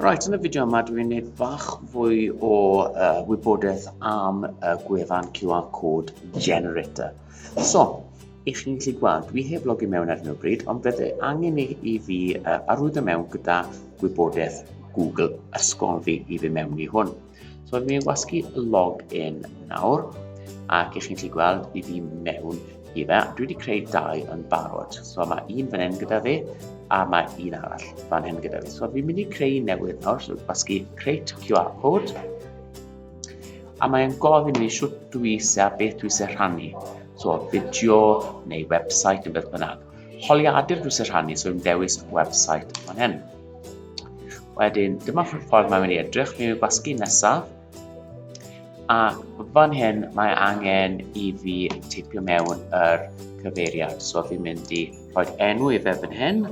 Right, yn y fideo yma dwi'n gwneud bach fwy o uh, wybodaeth am y gwefan QR Code Generator. So, i chi'n gallu gweld, dwi heb logi mewn ar hyn o bryd, ond fydde angen i, i fi uh, arwyddo mewn gyda gwybodaeth Google ysgol fi i fi mewn i hwn. So mae fi'n gwasgu log in nawr, ac i chi'n gallu gweld, fi fi mewn i fe. Dwi wedi creu dau yn barod. So mae un fan hyn gyda fi, a mae un arall fan hyn gyda fi. So fi'n mynd i creu newydd nawr, so gwasgu create QR code. A mae'n gofyn i mi siwt dwi eisiau, beth dwi eisiau rhannu. So fideo neu website neu beth bynnag. Holiadur dwi eisiau rhannu, so fi'n dewis website fan hyn. Wedyn, dyma ffordd mae'n mynd i edrych. Mi yw gwasgu nesaf. A fan hyn mae angen i fi tipio mewn yr cyfeiriad. So fi'n mynd i rhoi enw i fe fan hyn.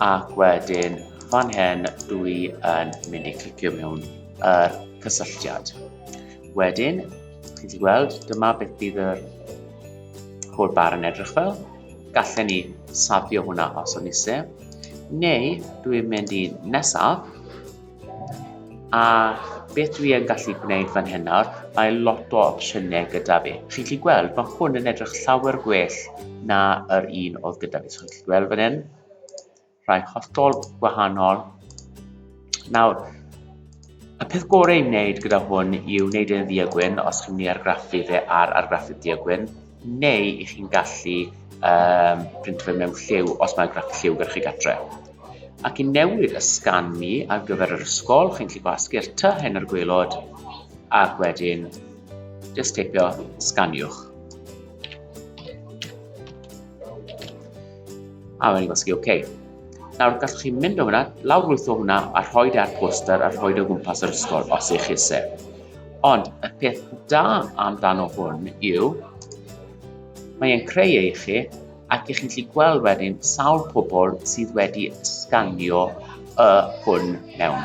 Ac wedyn fan hyn dwi yn mynd i clicio mewn yr cysylltiad. Wedyn, chi'n ti gweld, dyma beth bydd yr holl bar yn edrych fel. Gallen ni safio hwnna os o'n ise. Neu, dwi'n mynd i nesaf. A beth dwi yn gallu gwneud fan hyn nawr, mae lot o opsiynau gyda fi. Chi'n gallu gweld, mae hwn yn edrych llawer gwell na yr un oedd gyda fi. So, chi'n gallu gweld fan hyn. rhai hollol gwahanol. Nawr, y peth gorau i wneud gyda hwn yw wneud e'n ddiagwyn os chi'n mynd i argraffu fe ar argraffu diagwyn, neu i chi'n gallu um, print fe mewn lliw os mae'n graff lliw gyda chi gatre. Ac i newid y sgan ni ar gyfer yr ysgol, chi'n gallu gwasgu'r ty hyn ar gwylod ac wedyn just teipio sganiwch. A mae'n gwasgu OK. Nawr, gallwch chi mynd o hwnna, lawrlwytho hwnna a rhoi ar poster a rhoi o gwmpas yr ysgol os eich eisiau. Ond y peth da amdano hwn yw, mae'n creu ei chi ac ych chi'n gallu gweld wedyn sawl pobl sydd wedi sganio y hwn mewn.